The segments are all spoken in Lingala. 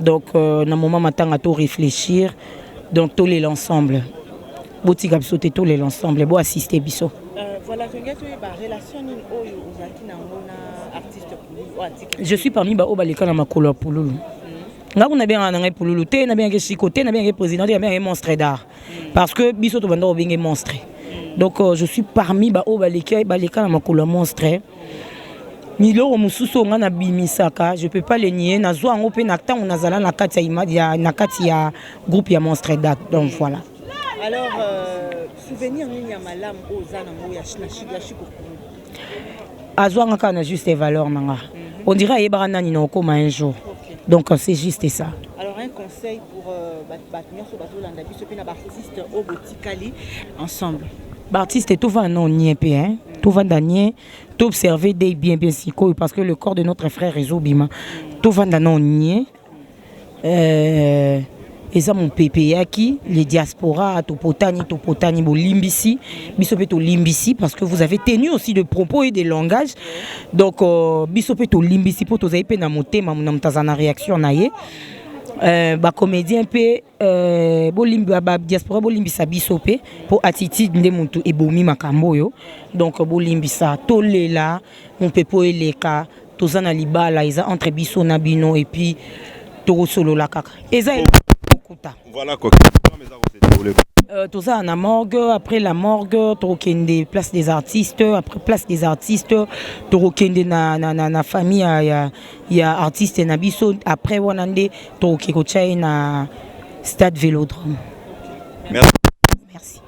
donc euh, na moment matanga to réfléchir donc tolela ensemble botika biso te tolela ensemble bo assister biso euh, voilà, je suis parmi baoyo baleka na makolo ya pululu nga kuna bengaka na ngai pululu te nabengaki shiko te nabengaki président te nabengaki monstre d'art parce que biso tobanda kobenge monstre donc euh, je suis parmi baoyo baleka baleka na makolo ya monstre miloko mosusu oyo ngai nabimisaka je peux pas le nie nazwa yango mpe na ntango nazala na kati ya, ima- ya, na kati ya groupe ya monstre dat donc voilà alors euh, souvenir nini ya malamu oyo oza nango ya shi- na shi- ya shikokuru azwanga kaka na juste valeur na nga mhm. on dirait ayebaka nani na okoma un jour donc c'est juste ça alors un conseil pour euh, bato nyonso bazolanda biso mpe na baartiste oyo botikali ensemble baartiste tovanda na onie mpe hein mm. tovanda nie toobserve dei bien bien sikoyo parce que le corps de notre frère ezobima tovanda na onie mm. Euh, eza mopepe eyaki les diaspora topotani topotani bolimbisi biso mpe tolimbisi parce que vous avez tenu aussi de propos et de langage donc euh, biso mpe tolimbisi mpo tozali mpe na motema na moto azala na réaction na ye euh, bacomédien mpe euh, bolimbi badiaspora bolimbisa biso mpe mpo attitude nde motu ebomi makambo oyo donc bolimbisa tolela mopepe oyo eleka Toza na libala eza entre biso na bino et puis toko solola kaka. Eza lokuta. Voilà quoi. Euh, toza na morgue après la morgue tokokende place des artistes après place des artistes tokokende na, na, na, na famille ya, ya, ya artiste na biso après wana nde tokoki kotya ye na stade vélodrome merci, merci.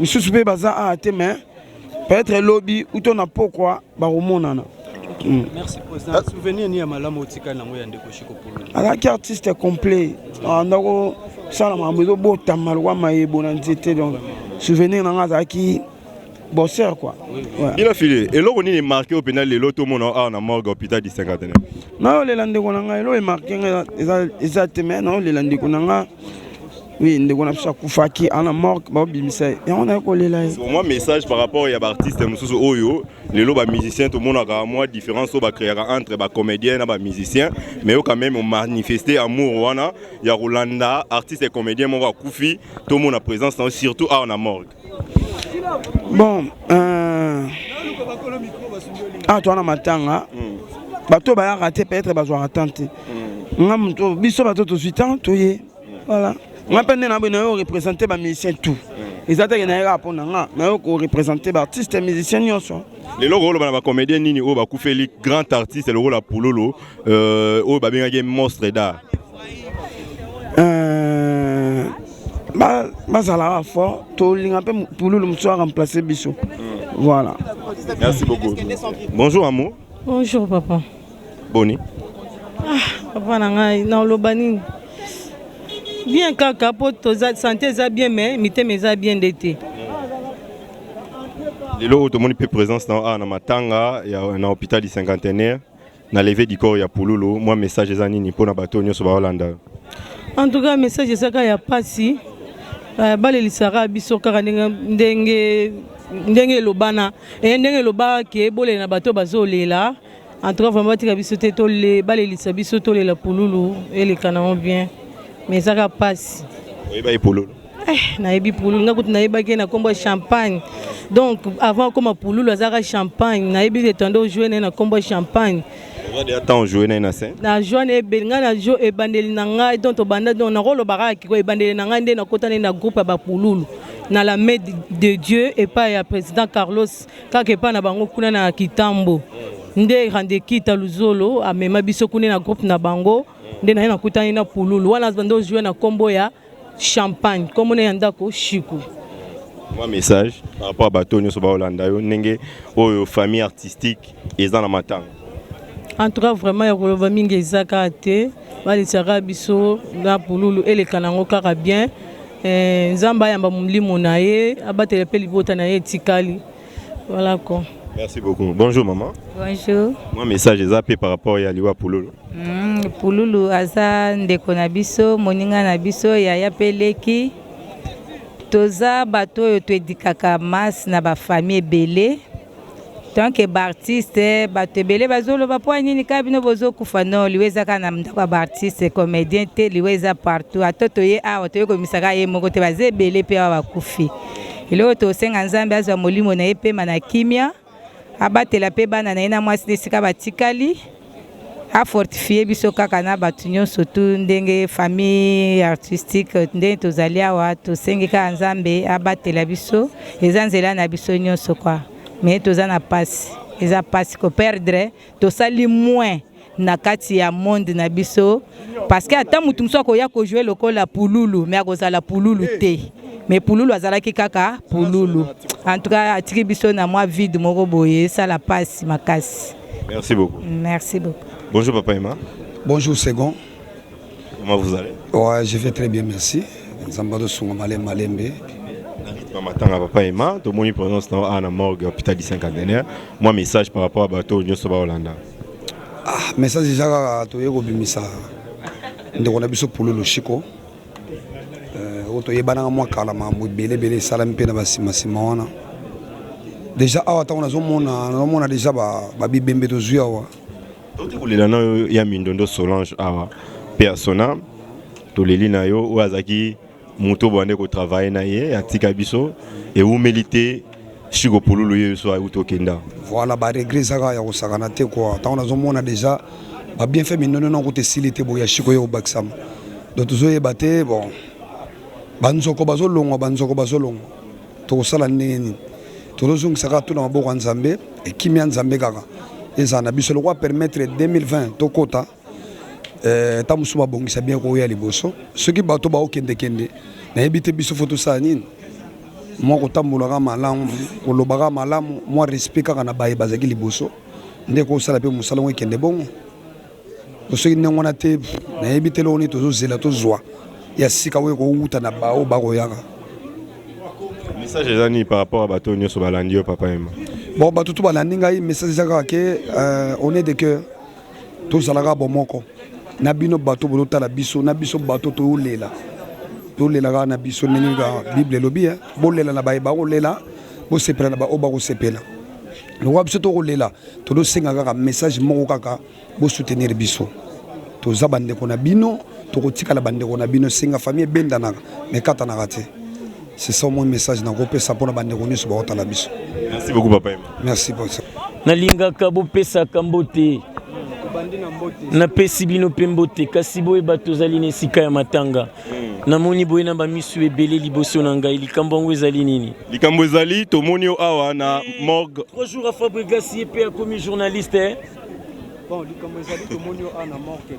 misusu mpe baza awa te mais peut-être lobi uto na pokwa bakomonana hmm. alaki artiste complet ah, ndako sala makambo ezobotama lokwa mayebo na nzete donc souvenir na ngai azalaki bosseur quoi bino file eloko nini emarke oyo mpenza lelo tomona awa na morgue hôpital du cinquantenaire nayolela ndeko na ngai eloko emarke ngai eza te mai nayolela ndeko na ngai Oui, ndeko na biso akufaki ana morgue babimisa ye yango naye kolela ye mwa message par rapport ya baartiste mosusu oyo lelo bamusicien tomonaka mwa différence oyo bacréaka entre bacomédien na bamusicien mais yo quand même omanifeste amour wana ya kolanda artiste ya comédien moko akufi tomona présence na yo surtout awa na morgue bon euh... awa towana matanga mm. bato bayaka te peut-être bazwaka temps te mm. nga moto biso bato tozwi temps toye Voilà. Nga mpe nde naboye nayo represente ba musicien tout hmm. eza teke naye kaka mpo na nga nayo korepresente ba artiste musicien nyonso lelo koloba na bacomédien nini oyo bakufeli grand artiste lokola pululu euh, oyo babengaki monstre d'art euh, bazalaka fort tolinga mpe pululu mosusu aremplace biso hmm. voilà merci beaucoup bonjour amo bonjour papa boni ah papa na ngai na oloba nini bien kaka po toza santé eza bien mais mitema eza bien nde te lelo oyo tomoni mpe présence na awa na matanga ya, na hôpital du cinquantenaire na levée du corps ya pululu mwa message eza nini mpo na bato oyo nyonso baolanda yo en tout cas message ezaka ya mpasi uh, balelisaka biso kaka ndenge, ndenge, ndenge elobana e ndenge eloba ke bolela na bato bazolela En tout cas vraiment batika biso te tole balelisa biso tolela pululu eleka nango bien mais ezaka mpasi oyebaki pululu eh, nayebi pululu nga kutu nayebaki ye na nkombo ya champagne donc avant akoma pululu azalaka champagne nayebi etande ojoue na ye na nkombo ya champagne najoane ebele ngai na jo ebandeli na ngai donc tobanda donc nakoloba kaka kiko ebandeli na ngai nde nakotani na groupe ya bapululu na la main de dieu epai ya président carlos kaka epai na bango kuna na kitambo nde randekita luzolo amema biso kuna na groupe na bango nde naye nakutani na pululu wana banda ojue na nkombo ya champagne nkombo na ya ndako shiku mwa message par rapport ya bato nyonso baolanda yo ndenge oyo famille artistique eza na matanga En tout cas vraiment ya koloba mingi eza kaka te balekisa kaka biso na pululu eleka nango kaka bien eh, nzambe ayamba molimo na ye abatela mpe libota na ye etikali voilà quoi merci beaucoup bonjour maman bonjour mwa message eza mpe par rapport ya liwa pululu mm, pululu aza ndeko na biso moninga na biso yaya mpe leki toza bato oyo toedikaka masse na bafamille ebele tant que b'artiste bato ebele bazoloba mpo ya nini kaka bino bozokufa no liwa eza kaka na ndako ya b'artiste comédien te liwa eza partout ato toye awa toye komisa kaka ye moko te baza ebele mpe awa bakufi eloko tosenga nzambe azwa molimo na ye mpema na kimia abatela mpe bana na ye na mwasi na esika batikali a fortifier biso kaka na batu nionso tout ndenge famille artistique ndenge tozali awa tosengi kaka nzambe abatela biso eza nzela na biso nionso quoi mais toza na pasi eza pasi ko perdre tosali moins na kati ya monde na biso parce que ata mutu mosusu akoya ko jouer lokola pululu mais akozala pululu te mais pululu azalaki kaka pululu en tout cas atiki biso na mwa vide moko boye esala pasi makasi Merci beaucoup. Merci beaucoup. Bonjour papa Emma. Bonjour second. Comment vous allez? Ouais, je vais très bien, merci. Zambado sunga male malembe. matanga papa ema tomoni présence na awa na morgue hôpital du cinquantenaire mwa message par rapport ya bato oyo nyonso baolanda ah, message eza kaka toye kobimisa ndeko na biso pululu shiko eh, oyo toyebanaka mwa kala makambo ebele ebele esalami mpe na basimasima wana deja awa ntango nazomona nazomona deja babibembe tozwi awa oti kolela na yo ya mindondo solange awa mpe asona toleli na yo oyo azalaki moto obande kotravaille na ye atika biso ewumeli te Chico Pululu ye so auti okenda. Voilà ba regret ezaka ya kosakana te quoi. Tango nazomona déjà ba bienfait minono na kuta esili te boya Chico ye obakisama. Donc tozoyeba te bon banzoko bazolongwa banzoko bazolongwa tokosala ndenge nini tozozongisa kaka to na maboko ya nzambe ekimi ya nzambe kaka ezala na biso lokola permettre 2020 tokota eh, ntango mosusu babongisa bien koya liboso soki bato baokendekende nayebi te biso fo tosala nini mwa kotambolaka malamu kolobaka malamu mwa respect kaka na baye bazalaki liboso nde kosala mpe mosala yango ekende bongo soki ndenge wana te nayebi te eloko nini tozozela tozwa ya sika oyo ekowuta na baoyo bakoyaka message eza nini par rapport ya bato oyo nyonso balandi yo papa ema bon bato tu balandi ngai message eza kaka ke euh, on est de cœur tozalaka bomoko na bino bato bozotala biso na biso bato toyolela tolela kaka na biso ndenge kaka bible elobi eh, bolela na baye bakolela bosepela na baoyo bakosepela lokola biso tokolela tozosenga kaka message moko kaka bosoutenir biso toza bandeko na bino tokotikala bandeko na bino senga famille ebendanaka mekatanaka te C'est ça au moins message na kopesa pona ba ndeko nyoso ba otala biso. Merci beaucoup papa Emma. Merci pour ça. Nalingaka bopesaka mbote. Napesi bino mpe mbote kasi boyeba tozali na esika ya matanga. Namoni boye na bamisu ebele liboso na ngai likambo yango ezali nini? Likambo ezali tomoni yo awa na morgue. Trois jours à Fabregas ye mpe akomi journaliste. Bon likambo ezali tomoni yo awa na morgue.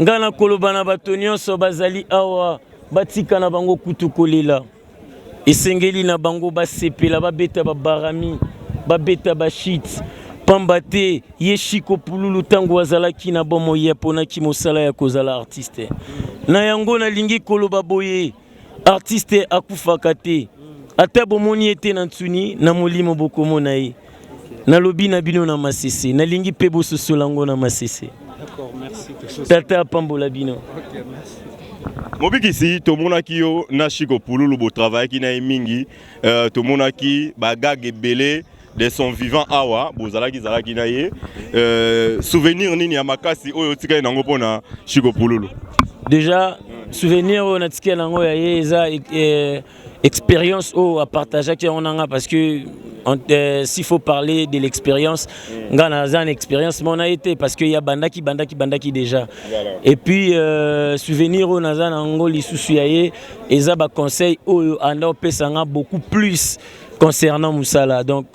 Ngai nakoloba na bato nyonso bazali awa, batika na bango kutu kolela. Esengeli na bango basepela, babeta babarami, babeta bashite pamba te ye Shiko Pululu ntango azalaki na bomoi aponaki mosala ya kozala artiste. Na yango nalingi koloba boye artiste akufaka te ata bomoni ye te na nsuni na molimo bokomona ye nalobi na bino na masese nalingi mpe bososola yango na masese tata apambola bino okay, mobikisi tomonaki yo na shiko pululu botravayaki na ye mingi uh, tomonaki bagage ebele de son vivant awa bozalaki zalaki na ye euh, souvenir nini ya makasi oyo otikali nango mpo na chiko pululu déjà souvenir oyo natikali nango ya ye eza eh, expérience oyo apartageaki yango na nga parce que euh, s'il faut parler de l'expérience nga naza na expérience moko na ye te parce que ya bandaki bandaki bandaki déjà et puis euh, souvenir oyo naza na yango lisusu ya ye eza baconseil oyo anda opesa nga beaucoup plus concernant musala donc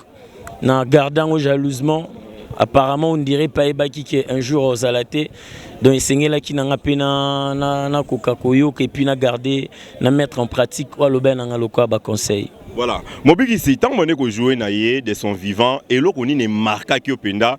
na garda yango jalousement apparemment on dirait pas ebaki ke un jour ozala te donc esengelaki na nga mpe nakoka koyoka epuis na garde na mettre en pratique oyo alobaki na nga lokola baconseil voilà mobikisi ntango bande kojoue na ye de son vivant eloko nini emarkaki yo mpenza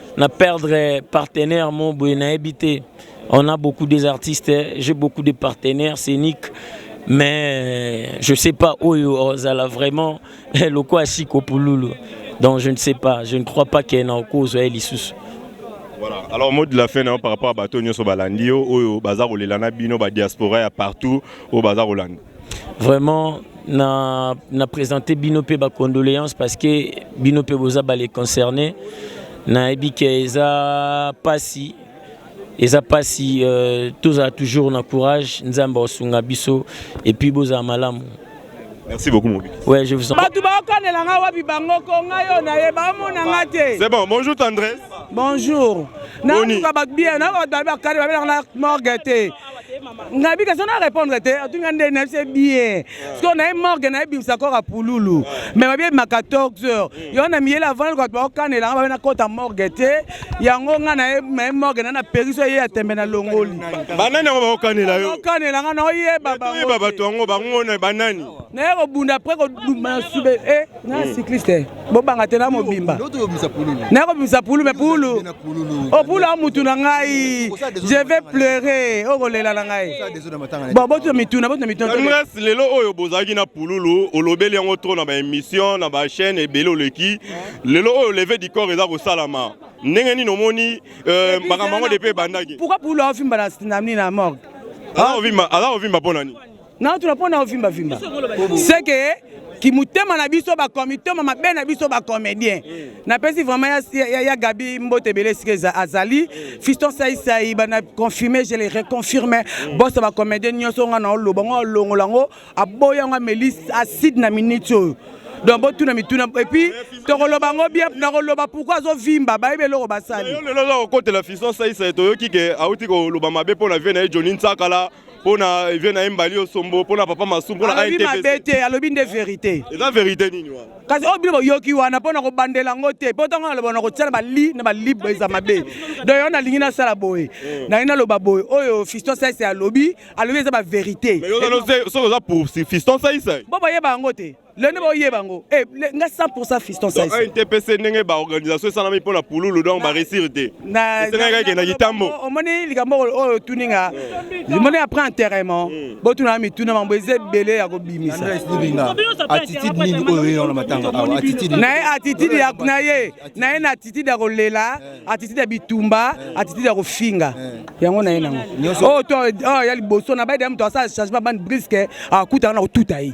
na perdre partenaire mo boye nayebi te on a beaucoup des artistes j'ai beaucoup de partenaires scéniques mais je sais pas oyo ozala vraiment eh, loko ashiko pululu donc je ne sais pas je ne crois pas que na okozwa ye lisusu Voilà. Alors mot de la fin par rapport à bateau nyoso balandi yo oyo baza kolela na bino ba diaspora ya partout au baza kolanda. Vraiment na, na presente bino mpe ba condoléances parce que bino mpe boza bale concerne nayebi ke eza pasi eza pasi euh, tozala toujours na courage nzambe akosunga biso et puis bozala malamu Merci beaucoup mon Ouais, je vous en Batu ba kanela nga wapi bango ko nga yo na ye ba mona nga te. C'est bon, bonjour Tendresse. Bonjour. Na ka ba bien, na ba ba kare ba na morgue te. ngabi kasi na répondre te atuni nga ndeni nayebisa bien sikoyo naye morgue naye bimisa kora pululu me babie ma 14 heures mm. yo na miyele avandi bato baokanela nga babe nakota morgue te yango nga naye morgue naye na periso eye ya tembe na longoli banani yango baokanela yo okanela nga naoyeba bato yango bango banani naye kobunda apres kobunda sube eh. na hmm. cycliste bobanga te na mobimba naya kobimisa pulu me pulu o oh, pulu a mutu na ngai je vais pleure okolela oh, na ngai bon botuna mituna botuna mitunamresi lelo oyo bozalaki na pululu olobeli yango trop na baémission na bachaîne ebele oleki lelo oyo leve du corps eza kosalama ndenge nini omoni euh, makambo yango depe ebandaki pourkui pulu aofimba na morgue aza kovimba mpo na nini na tuna mpo na ovimba vimba seke kimutema na biso bakomitoma mabe na biso bacomédien napesi vraiment ya, ya, ya gabi mbote ebele esika azali fiston saisai bana confirme je le reconfirme bosa bacomédien nyonso nga na oloba ngo alongola ngo aboya yango ameli acide na minute oyo donc botuna mituna epuis tokoloba ngo bien nakoloba pourkui azovimba bayebi eloko basali lelo oza kokotela fiston saisai toyoki ke auti koloba mabe mpo na vie na ye joni nsakala mpo na vie na ye mbali osombo mpo na papa masumu mpo na alobi mabe te alobi nde verité eza verité nini wana kasi oyo bino boyoki wana mpo na kobandela yango te mpo ntango naloba na kotia na bali na balibre eza mabe donc yango nalingi nasala boye eh. nalingi naloba boye oyo fiston saise alobi alobi eza baverité soki oza pour fiston saise bo boyeba yango te le nde baoyeba yango eh, nga 100 fiston saintpc ah, ndenge baorganisation esalami mpo na pululu donc baresire te esengaki kende kitambo omoni likambo oyo otuni nga omoni après enterrement hmm. botunaka mituna mambo eza ebele ya kobimisa naye attitude na ye na ye na attitude ya kolela eh. attitude ya bitumba eh. attitude ya kofinga eh. yango na ye nango oyo oh, to oh, ya liboso na baide ya moto asala changement bande briske akutana na kotuta ye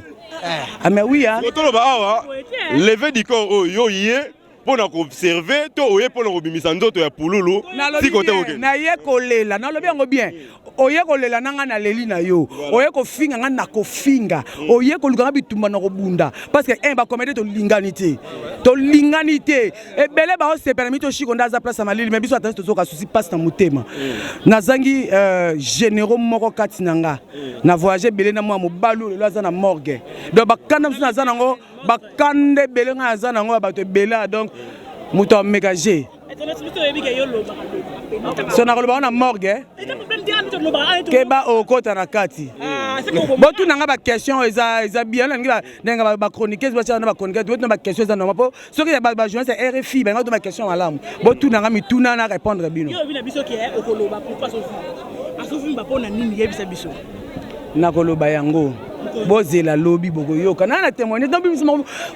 Ah, mais oui, hein. Toloba awa, lever du corps, oh, yo, yé. mpo na koobserve to oye mpo na kobimisa nzoto ya pululu sikote naye kolela nalobi yango bien oye kolela na ngai naleli na yo oye kofinga ngai nakofinga mm. oye koluka ngai bitumba na kobunda parce que eh, bakomede tolingani te tolingani te ebele baosepela mito shiko nde aza place ya malili me biso atasi tozoka susi mpasi na motema nazangi euh, généraux moko kati na nga na voyage ebele na mwa mobalu lelo aza na morgue donc bakanda mosusu naza nango bakanda ebele ngai aza nango ya bato ebela donc moto ameka je so nakolobaka na morgue eh? eh, keba okota na kati ah, botuna nga baquestion eza bien nalingi ndenge bachroniqueuse batyana na bachroniqueuse botuna baquestion eza normal mpo soki ya bajournaliste ya rfi balinga otoma question malamu botunanga mituna na répondre bino nakoloba yango bozela lobi bokoyoka na na témoigne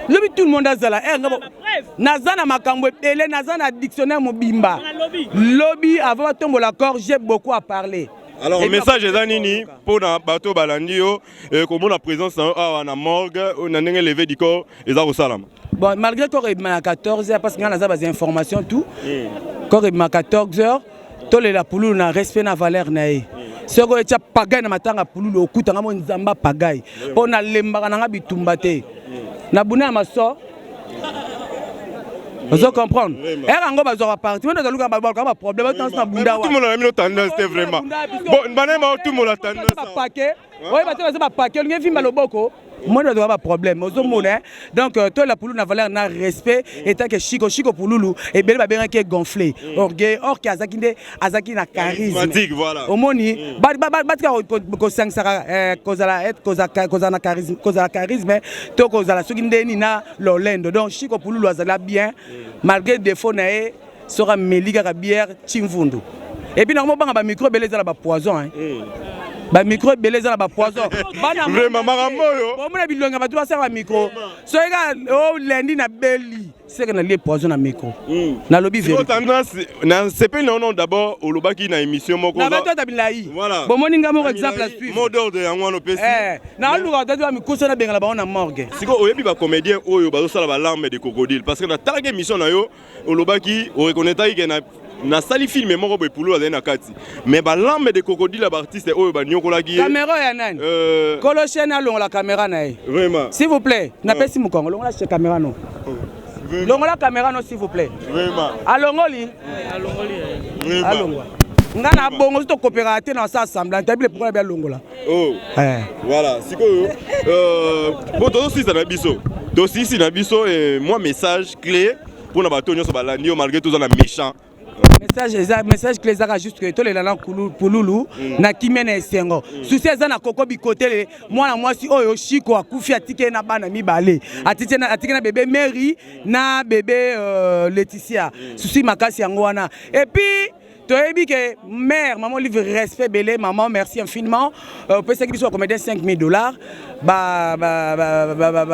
lobi tout le monde azala eh, naza na makambo ebele naza na dictionnaire mobimba lobi avant batombola accord j'ai beaucoup à parler alors message eza nini mpo na bato oyo balandi yo eh, komona présence na yo awa na morgue na ndenge leve du corps eza kosalama Bon, malgré koko ebima na 14 heures, parce que naza bas informations tout. Koko ebima 14 heures, to le la pululu na respect na valeur na ye. Soko etia pagai na matanga pululu okuta ngamo nzamba pagai. Po na lembaka na nga bitumba te. Na buna maso. Vous comprenez Era eh, ngo bazo ba parti, wenda zaluka ba ba problème, tansi na bunda wa. Tout le monde a mis tendance vraiment. Bon, bana ma tout le monde a tendance. oye bato baza bapake olingi evimba loboko mwana azoka baproblème ozomona eh? donc euh, toyela pululu na valeur na respect mm. etake chiko chiko pululu ebele babengaki gonfle mm. orgueil or ke azalaki nde azalaki na charisme omoni mm. batika kosangisaka eh, kozala na charisme kozala charisme eh, to kozala soki nde nini na lolendo donc chiko pululu azala bien malgré défaut na ye soki ameli kaka bière chimvundu epuis nango mobanga bamicro ebele ezala bapoison hein. Eh. bamicro ebele eza na bapoison banamakambo oyo bomona bilongi ya bato basala bamicro soki kaka o oh, lendi na beli seke nalie poison na micro hmm. nalobi vernasepeli na ono d'abord olobaki na émission moko na bato ata bilai bomoni nga moko exemple suivemodorde yango wana opesi eh, naluka tati bamikoso nabengana bango na morgue sikoyo oyebi bacomédien oyo bazosala balarme de crocodile parce que natalaki émission na yo olobaki o reconnaîtaki ke na nasali filme moko boye pulu azali na kati mais balambe de crocodile ya baartiste oyo baniokolaki ye kamera oyo ya nani Euh, kolo chaine alongola kamera na ye vraiment s'il vous plaît napesi mokongo longola chez kamera no Vraiment, longola kamera no s'il vous plaît vraiment alongoli vraiment alongwa nga na bongo so tokoperaka te na sa semblant tabi le pourquoi na bi alongola Oh. Eh. Voilà, sikoyo euh, bon tozosisa na biso tosisi na biso et moi message clé mpo na bato nyonso balandi yo malgré toza na méchant message eza message clé ezaka juste que tolela na pululu mm. na kimia na esengo mm. susi eza na koko bikotele mwana mwasi oyo shiko akufi atike na bana mibale mm. atike na, atike na bebe mary na bebe uh, leticia susi makasi yango wana epuis toyebi ke mère maman olive respect ebele maman merci infiniment euh, opesaki biso bacomédien 5000 dollars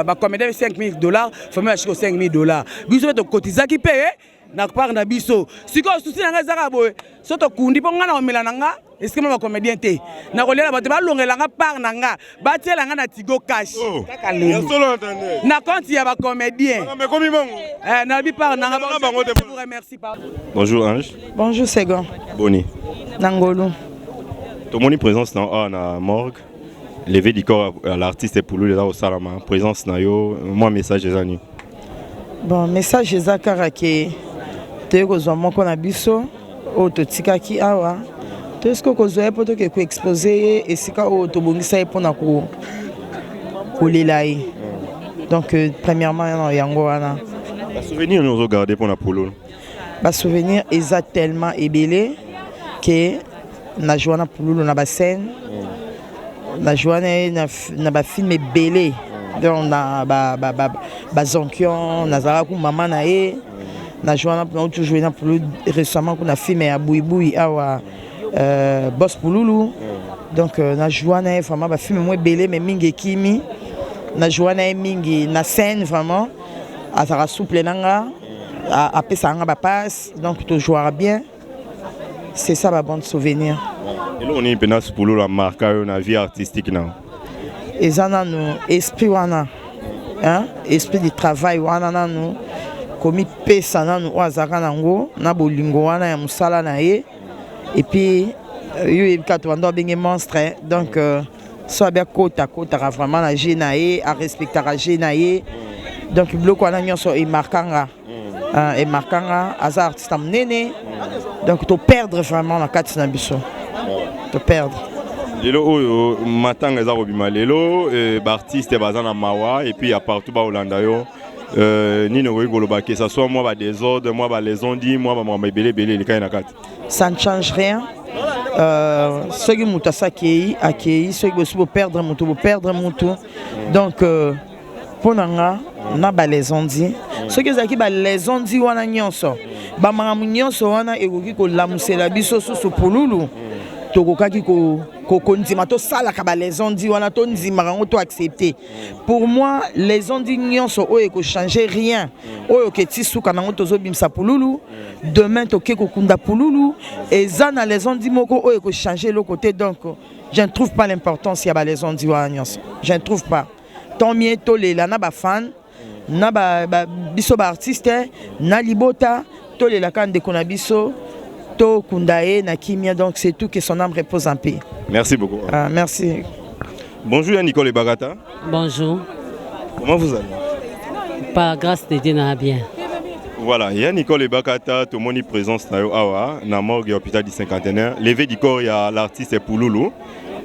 bacomédien 5000 dollars famille yashiko 5000 dollars biso mpe tokotizaki mpe eh, na part na biso sikoyo susi na ngai ezaka boye so tokundi mpo ngai na komela na ngai esikema bacomédien te nakolela bato balongela ngai part na ngai batiela nga na tigo cash oh. kaka lelo na compte ya bacomédien eh, nalobi par nanga remercie bonjour ange bonjour second boni na ngolu tomoni présence na awa na morgue levé du corps à l'artiste epululu eza kosalama présence na yo mwa message eza nini bon message eza kaka ke toyei kozwa moko na biso oyo totikaki awa toyesi ko kozwa ye mpo toke koexpose ye esika oyo tobongisa ye mpona kolela ye donc euh, premièrement yana yango wana basouvenir nini ozogarde mpona pululu basouvenir eza tellement ebele ke na joua na pululu na bascène na joua na ye na bafilme ebele donc na bazonkion nazalaka ku mama na ye na joua nauti joue na pululu récemment kuna filme ya buibui awa euh, bos pululu donc euh, na joua na ye vraiment bafilme mo ebele me mingi ekimi na joua na ye mingi na scène vraiment azalaka souple na nga apesaka nga bapasse donc tojouaka bien c'est ça ba bande souvenir eloko nini mpenza sipululu amarka yo na vie artistique na eza nanu esprit wana hein? esprit du travail wana nanu komipesa nanu oyo azalaka nango na bolingo wana ya mosala na ye epuis euh, yo oyebi kaka tobanda babenge monstre hein? donc euh, so abi akota akotaka vraiment na je na ye arespectaka je na ye donc biloko wana nyonso emarkanga ah, emarkanga aza artiste ya monene donc toperdre vraiment na kati na biso toperdre lelo oyo matanga eza kobima lelo eh, baartiste baza na mawa epuis ya partout baolanda yo Euh, nini okoki koloba que ça soit mwa badésordre mwa balesondi mwa bamakambo ebele ebele elekaki na kati ça ne change rien euh, soki moto asi akei akei soki bosi boperdre moto boperdre moto donc euh, mpo na nga na ba les ont dit soki ezalaki ba les ont dit wana nyonso bamakambo nyonso wana ekoki kolamusela biso susu pululu tokokaki ko kokondima tosalaka ba les ont dit wana tondimaka yango to accepte pour moi les ont dit nyonso oyo ekochange rien oyo keti suka nango tozobimisa pululu demain toke kokunda pululu eza na les ont dit moko oyo ekochange eloko te donc je ne trouve pas l'importance ya ba les ont dit wana nyonso je ne trouve pas tant mieux tolela na ba fan na ba, ba biso ba artiste na libota tolela ka ndeko na biso tokunda ye na kimia donc c'est tout que son âme repose en paix merci beaucoup ah, merci bonjour ya Nicole Bagata bonjour comment vous allez par grâce de Dieu na bien voilà ya Nicole Ebakata tomoni présence na yo awa na morgue ya hôpital du cinquantenaire levé du corps ya l'artiste Pouloulou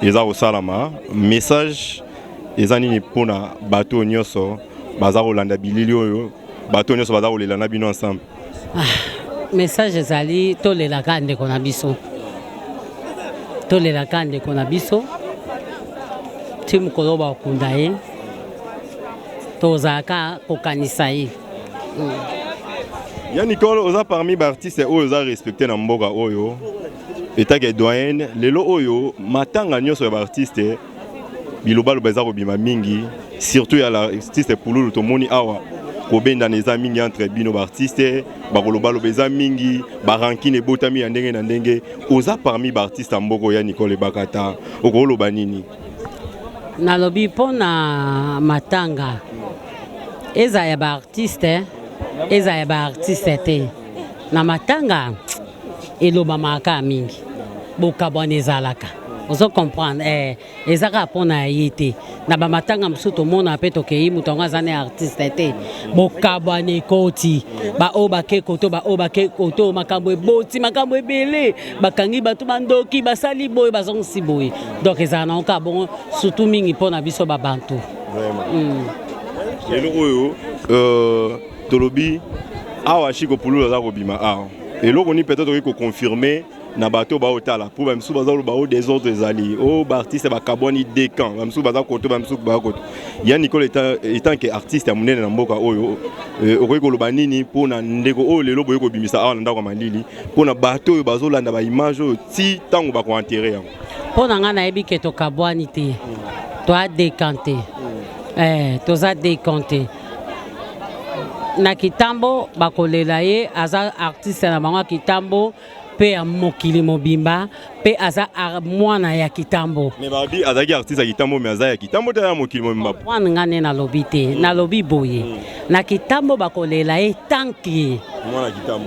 eza kosalama message Eza nini pona bato oyo nioso baza kolanda bilili oyo bato oyo nioso baza kolela na bino ensemble? Ah, message ezali tolela ka ndeko na biso, tolela ka ndeko na biso ti mokolo bakunda ye tozalaka kokanisa ye mm. ya nicole oza parmi baartiste oyo oza respecte na mboka oyo etake doyenne lelo oyo matanga nyonso ya baartiste bilobaloba eza kobima mingi surtout ya l'artiste pululu tomoni awa kobendana eza mingi entre bino baartiste bakolobaloba eza mingi barankine ebotami ya ndenge na ndenge oza parmi baartiste ya mboko ya nicole ebakata okoloba nini nalobi mpo na matanga eza ya baartiste eza ya baartiste te na matanga elobamaka kaka mingi bokabwana ezalaka ozo comprendre eh, eza kaka mpo na ye te na bamatanga mosusu tomona mpe tokei moto yango aza na artiste te bokabwana ekoti baoyo bake koto baoyo bake koto makambo eboti makambo ebele bakangi bato bandoki basali boye bazongisi boye donc ezala nango kaka bongo surtout mingi mpo na biso babantu mm. lelo oyo euh, Tolobi awa Chico Pululu aza kobima awa eloko ni peut-être okoki koconfirme na bato baotala mpo bamisusu baza koloba o oh, desordre ezali o oh, baartiste bakabwani de camp bamisusu baza koto bamisusu baza koto ya nicole etant ke artiste ya monene na mboka oyo euh, okoki koloba nini mpo na ndeko oyo lelo boye kobimisa awa na ndako ya malili mpo na bato oyo bazolanda baimage oyo ti ntango bakoentere yango mpo na ngai nayebi ke tokabwani te toadekante eh, toza dekante na kitambo bakolela ye aza artiste na bango ya kitambo mpe ya mokili mobimba mpe aza mwana ya kitambo babi azalaki artiste ya kitambo me aza ya kitambo te ya mokili mobimba mwana ngai nde nalobi te mm. nalobi boye mm. na kitambo bakolela ye tanke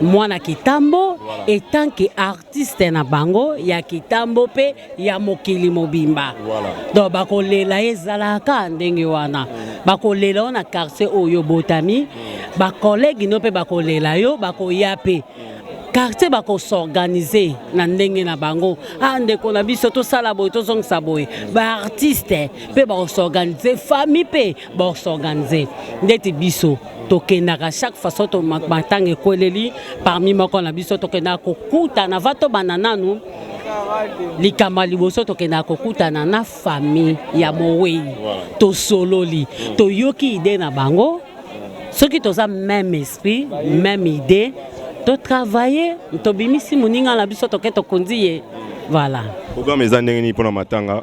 mwana kitambo etanke artiste na bango ya kitambo mpe ya mokili mobimba voilà. donc bakolela ezalaka ndenge wana mm. bakolela yo na quartier oyo obotami mm. bakolege no mpe bakolela yo bakoya mpe mm. quartier bakosorganize na ndenge na bango ah ndeko na biso tosala boye tozongisa boye baartiste mpe bakosorganize famille mpe Ba s'organiser ndeti biso tokendaka chaque façon to matanga ekweleli parmi moko na biso tokendaka kokutana va tobanda nanu likambo ya liboso tokendaka kokutana na famille ya mowei tosololi mm. toyoki ide na bango soki toza même esprit même idée totravaille tobimisi moninga na biso toke tokonzi ye voilà programme eza ndenge nini mpo na matanga